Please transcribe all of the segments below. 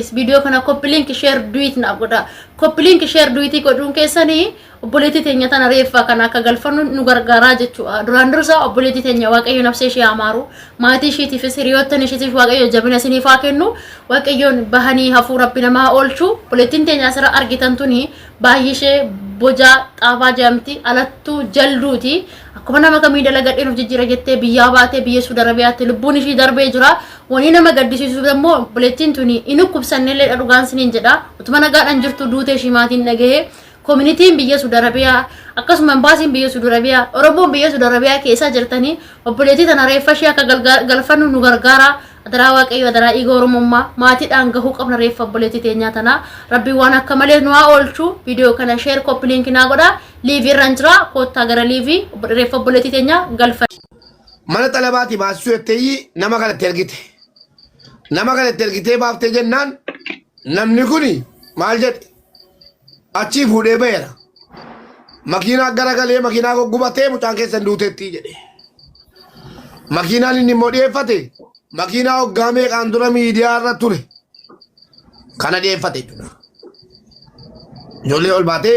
Is viidiyoo kana copy link share do it naaf godhaa. Copy link share do it godhuun keessanii obboleettii teenya tana reeffaa kana akka galfannu nu gargaaraa jechuudha. Duraan dursaa obboleettii teenya waaqayyo nafsee ishee amaaru maatii ishiitiifis hiriyoottan ishiitiif waaqayyo jabina isiniif haa kennu waaqayyoon bahanii hafuu rabbi namaa oolchu obboleettiin teenya asirra argitan tuni baay'ee ishee bojaa xaafaa jedhamti alattuu jalduuti Akkuma nama kamii dalagadheen of jijjiira jettee biyyaa baatee biyya Suudi Arabiyaatti lubbuun ishii darbee jira. Wanii nama gaddisiisu immoo obboleettiin tuni hin dhukkubsannellee dha dhugaan siniin jedha. Utuma nagaadhaan jirtu duutee ishii maatiin dhagahee koominitiin biyya Suudi Arabiyaa akkasuma imbaasiin biyya Suudi Arabiyaa Oromoon biyya Suudi Arabiyaa keessa jirtanii obboleettii tana reeffa ishii akka galfannu nu gargaara. Adaraa waaqayyo adaraa dhiiga Oromummaa maatiidhaan gahuu qabna reeffa obboleettii teenyaa tana. Rabbi waan akka malee nu haa oolchu. Viidiyoo kana sheer koppiliinki naa godha. liivii irraan jira koottaa gara liivii obbo Dhireeffa obboleettii teenyaa galfa. Mana xalabaati baasisuu jetteeyyi nama kana itti ergite. Nama kana itti ergitee baaftee jennaan namni kuni maal jedhe achii fuudhee baheera. Makiinaa garagalee makiinaa goggubatee mucaan keessan duuteettii jedhe. Makiinaan inni immoo dhiyeeffate makiinaa waggaa meeqaan dura miidiyaa irra ture kana dhiyeeffate jechuudha. Ijoollee ol baatee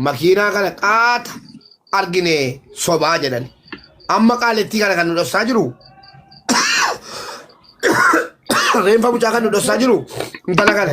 makiinaa kana qaata argine sobaa jedhan. Amma qaalittii kana kan nu dhossaa jiru reenfa mucaa kan nu dhossaa jiru intala kana.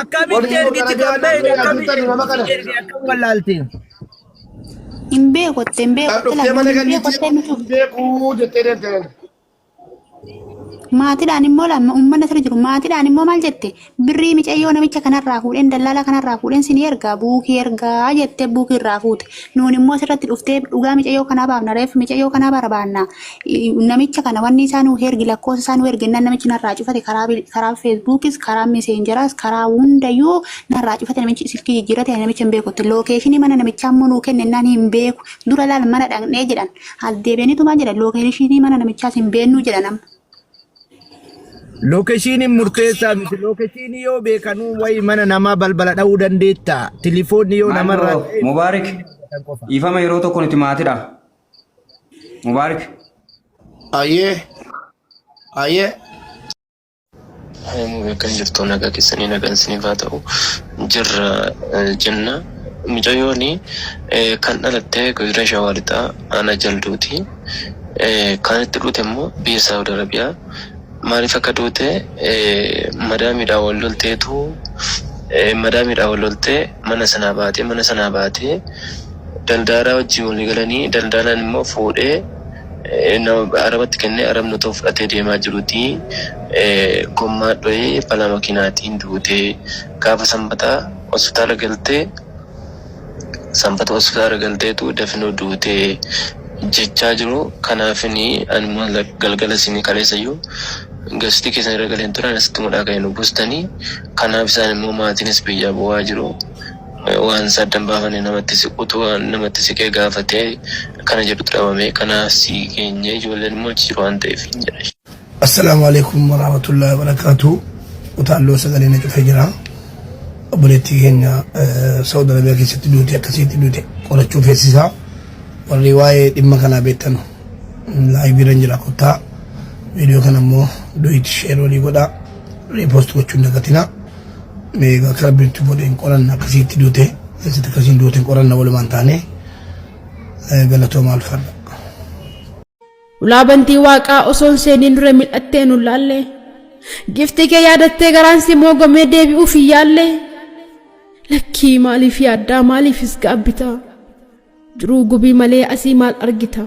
Akkamitti Warri yeroo ergiti gara kan garaa beekne naannoo akkamitti yaaduu nama kana. ergiti akkam wallaalte. Hin beeku itti hin beeku Kan itti dhuftee mana lammii hin beeku gannitti itti hin hin beeku jettee deemte namni. Maatiidhaan immoo lama uummanni asirra jiru maatiidhaan immoo maal jette birrii micayyoo namicha kanarraa fuudheen dallaalaa kanarraa fuudheen sin ergaa buukii ergaa jettee buukii irraa fuute nuun immoo asirratti dhuftee dhugaa micayyoo kanaa baafna reef micayyoo kanaa barbaanna namicha kana wanni isaa nuu hergi lakkoofsa isaa nuu ergi nan namichi narraa cufate karaa bil- karaa feesbuukis karaa meseenjeraas karaa hundayyuu narraa cufate namichi silkii jijjiirate ani namicha hin beekutti lookeeshinii mana namichaa immoo nuu kenne naan hin beeku dura laal mana dhaqnee jedhan as deebi'aniitu maal jedhan lookeeshinii mana namichaas hin beennuu jedhan amma. Lookeshiiniin murteessaa miti. Lookeshiinii yoo beekanuu wayi mana namaa balbala dha'uu dandeetta. Tilifoonni yoo Maal namarraa bro, Mubaarik, dhiifama yeroo tokko nuti maatidha. Mubaarik. Ayyee. Ayyee. Kan jirtu nagaa keessanii nagaan isiniif haa ta'u jirra jenna. Mucayyoon kan dhalatte godina Shawaa Lixaa Aanaa Jalduuti. Kan itti dhute immoo biyya Saawud Arabiyaa Maalif akka duute madaamiidhaan wal lolteetu madaamiidhaan wal loltee mana sanaa baatee mana sanaa baatee daldaalaa wajjin walii galanii daldaalaan immoo fuudhee nama arabatti kennee arabni otoo fudhatee deemaa jiruti gommaa dhoyee balaa makiinaatiin duute gaafa sanbataa hospitaala galtee Sanbata hospitaala galteetu dafino duute jechaa jiru. Kanaafini animo galgala isin kaleessayyu gastii keessan irra galeen ture anas itti mudhaa ka'e nu bustani. Kanaaf isaan immoo maatiinis biyyaa bo'aa jiru. Waan isaa addan baafane namatti siqutu namatti siqee gaafate kana jedhutu dhabame. Kanaaf si geenye ijoolleen immoo achi jiru waan ta'eef hin jedhe. Assalaamu Aleeykum Waraamatullaahi Wabarakaatu Utaalloo sagalee na cufee jira obboleettii keenya Saawud Arabiyaa keessatti duute akkasitti duute qorachuu feesisaa warri waa'ee dhimma kanaa beektan laayibiirra jira kottaa viidiyoo kana immoo du'iitti sheer walii godhaa riipoost gochuun dagatina meeqa akka rabbiitti godheen qoranna akkasitti duute keessatti akkasiin duuteen qoranna walumaan taane galatoomaa alfadha. Ulaa bantii waaqaa osoo hin seeniin dura mil'attee nu laalle. Giftii kee yaadattee garaan si moogomee deebi'uuf hin yaalle. Lakkii maaliif yaaddaa maaliifis gaabbita. Jiruu gubii malee asii maal argita.